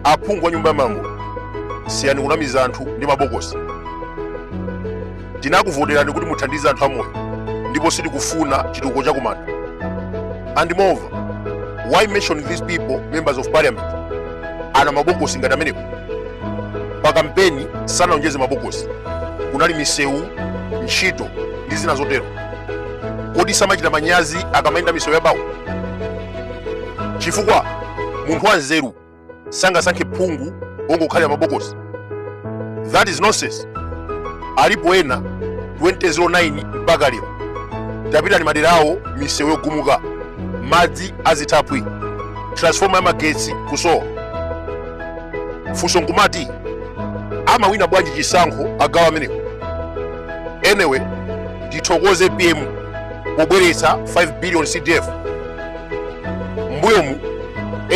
aphungu wa nyumba ya malamulo siyani kunamiza anthu ndi mabokosi tinakuvoterani kuti muthandize anthu amoyo ndipo sitikufuna chitukuko chakumanda and moreover why mention these people mamembers of parliament anena mabokosi ngati amenepo pa kampeni sanaonjeze mabokosi kunali misewu ntchito ndi zina zotero kodi samachita manyazi akamayenda misewu yabawo chifukwa munthu wanzeru sangasankhe phungu wongokhalira mabokosi that is nonsense alipo ena 2009 mpaka lero tapitani madera awo misewu yogumuka madzi azithaphwi transforma ya magetsi kusowa funso nkumati amawina bwanji chisankho agawo amenewo anyway ndithokoze apm pobweretsa 5 billion cdf mbuyomu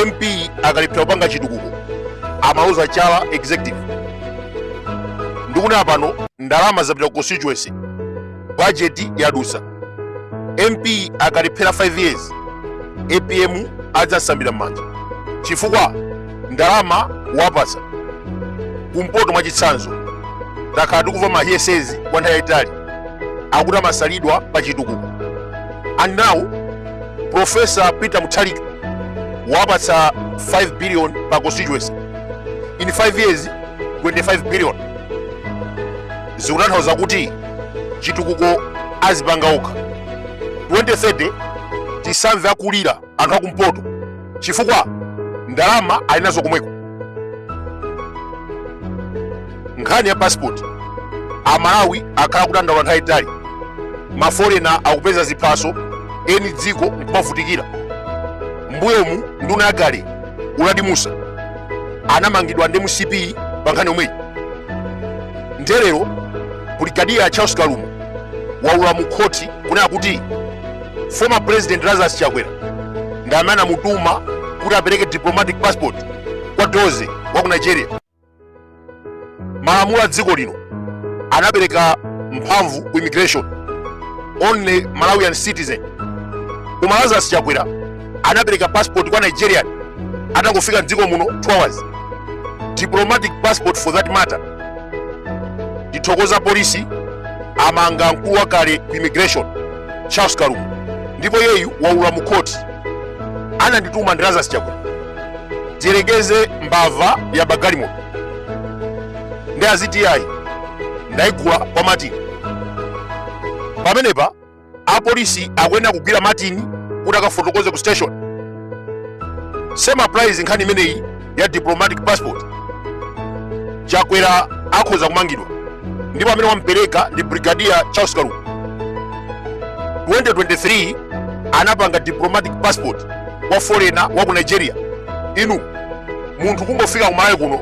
mp akalephera kupanga chitukuko amaloza chala executive ndikunena pano ndalama zapita ku constituency bajeti yadusa mp akalephera 5 years apm adzasamba m'manja chifukwa ndalama wapatsa kumpoto mwa chitsanzo takhala tikumva mahiyesezi kwa nthawi yayitali akuti amasalidwa pa chitukuko and now profesa peter mutharika wapatsa 5 billion pa constituency in 5 years 25 billion zikutanthauza kuti chitukuko azipanga okha 2030 tisamve akulira anthu akumpoto chifukwa ndalama ali nazo komweko nkhani ya passport amalawi akhala kudandaula nthawi yaitali maforena akupeza ziphaso eni dziko nkumavutikira mbuyomu nduna yakale uladi musa anamangidwa ndi mcp pa nkhani yomweyi nde lero brigadier charles kalumo a ulula mu khoti kunena kuti former president lazarus chakwera ndi amene anamutuma kuti apereke diplomatic passport kwa dozy wa ku nigeria malamulo a dziko lino anapereka mphamvu ku immigration only malawian citizen koma lazarus chakwera anapereka passport kwa nigerian atangofika mdziko muno 2 hours diplomatic passport for that matter tithokoza polisi amanga mkulu wakale ku immigration charles kalumo ndipo iyeyu waula mu khoti anandituma ndi lazarus chakwera tiyerekeze mbava yaba galimoto ndi aziti ayi ndayigula kwa matini pamenepa apolisi akuyenera kugwira matini kuti akafotokoze ku station same applies nkhani imeneyi ya diplomatic passport chakwera akhoza kumangidwa ndipo amene wampereka ndi brigadier charles kalumo 2023 anapanga diplomatic passport kwa foreigner wa ku nigeria inu munthu kungofika kumalawi kuno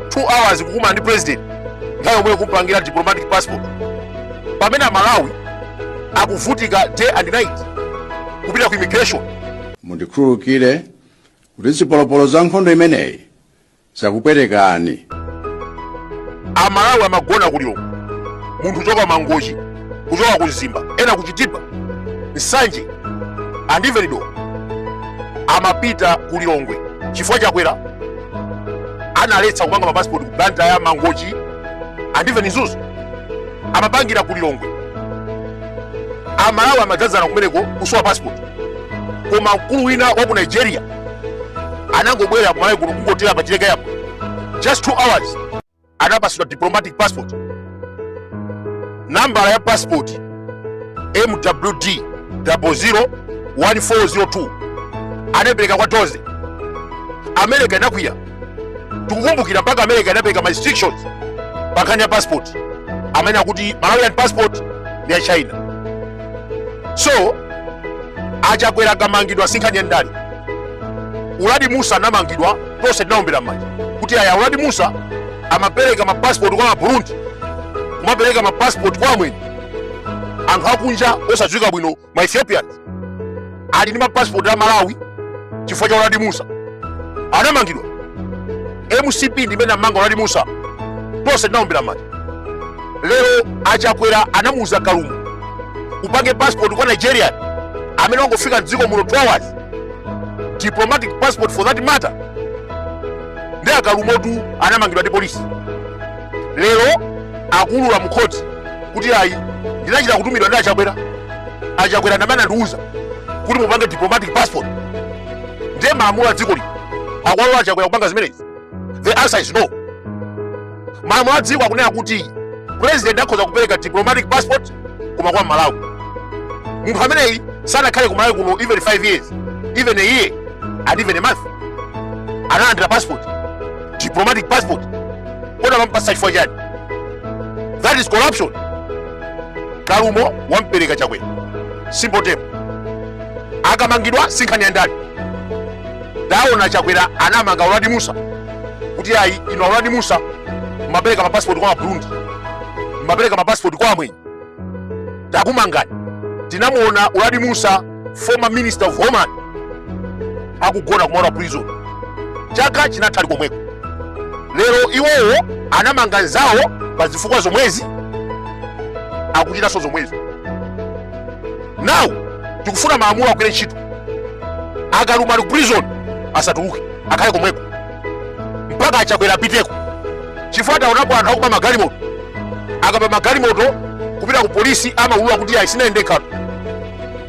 2 hours kukumana ndi president nthawi yomweyo kumpangira diplomatic passport pamene amalawi akuvutika day and night kupita ku immigration mundikhululukire kuti zipolopolo za nkhondo imeneyi zakupwetekani amalawi amagona ku lilongwe munthu kuchoka mangochi kuchoka ku mzimba ena kuchitipa nsanje and even neno amapita ku lilongwe chifukwa chakwera analetsa kupanga mapasipoti ku blantyre mangochi and even mzuzu amapangira ku lilongwe amalawi amadzadzana kumeneko kusowa passport koma mkulu wina wa ku nigeria anangobwera kumalawi kuno kungotera pa chileka apo just two hours anapasidwa diplomatic passport nambala ya passport mwd 001402 anapereka kwa dozy america inakwiya tikukumbukira mpaka america inapereka ma restrictions pankhani ya passport amanena kuti malawian passport ndi ya china so achakwera akamangidwa sinkhani ya ndale uladi musa anamangidwa tonse tinaombera m'manja kuti aya uladi musa amapereka mapasipoti kwa maburundi kumapereka mapasipoti kwa amwenye anthu akunja osadziwika bwino ma Ethiopians ali ndi mapasipoti a Malawi chifukwa cha Uladi Musa anamangidwa. MCP ndi imene inamanga Uladi Musa, tonse tinaombera m'manja. Lero achakwera anamuuza Kalumo upange passport kwa Nigeria amene wangofika mdziko muno 2 hours diplomatic passport for that matter ndiye a Kalumotu anamangidwa ndi polisi lero akuulula mkhoti kuti ayi ndinachita kutumidwa ndi achakwera achakwera ndamene anandiuza kuti mupange diplomatic passport ndiye malamulo a dziko lino akuwalola achakwera kupanga zimenezi the answer is no malamulo a dziko akunena kuti president akhoza kupereka diplomatic passport koma kwa mmalawi munthu ameneyi sanakhale ku malawi kuno even 5 years even a year and even a month analandira passport diplomatic passport kodi amampasa chifukwa chani that is corruption kalumo wampereka chakwera simple term akamangidwa sinkhani ya ndani ndaona chakwera anamanga uladi musa kuti ayi inu a uladi musa mmapereka mapasipoti kwa maburundi mmapereka mapasipoti kwa amwenye takumangani tinamuona uladi musa former minister of homeland akugona ku maula prison chaka chinatha ali komweko lero iwowo anamanga nzawo pa zifukwa zomwezi akuchitanso zomwezi nawu tikufuna malamulo agwire ntchito a kalumo ali ku prison asatuluke akhale komweko mpaka achakwera apiteko chifukwa taonapo anthu akuba magalimoto akaba magalimoto kupita ku polisi amaulula kuti ayi sinali ndekha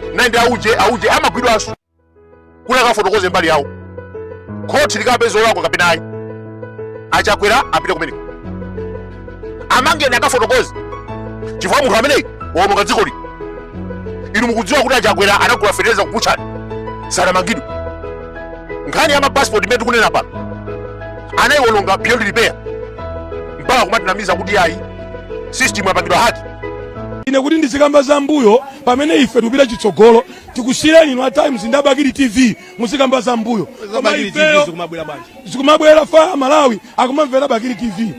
ndinali ndi auje auje amagwidwanso kuti akafotokoze mbali yawo khoti likapeza olakwa kapena ayi achakwera apite kumeneko amangeni akafotokoze chifukwa munthu ameneyi waononga dzikoli inu mukudziwa kuti achakwera anagula fetereza ku butchery sanamangidwe nkhani ya mapasipoti imene tikunena pano anayiwononga beyond repair mpaka kumatinamiza kuti ayi system yapangidwa haki ine kuti ndizikamba za mbuyo pamene ife tikupita chitsogolo tikusiyireni inu a times ndi abakili tv muzikamba za mbuyo koma Bakili TV ifeyo zikumabwera bwanji zikumabwera far amalawi akumamvera bakili tv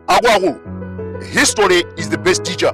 akuluakulu history is the best teacher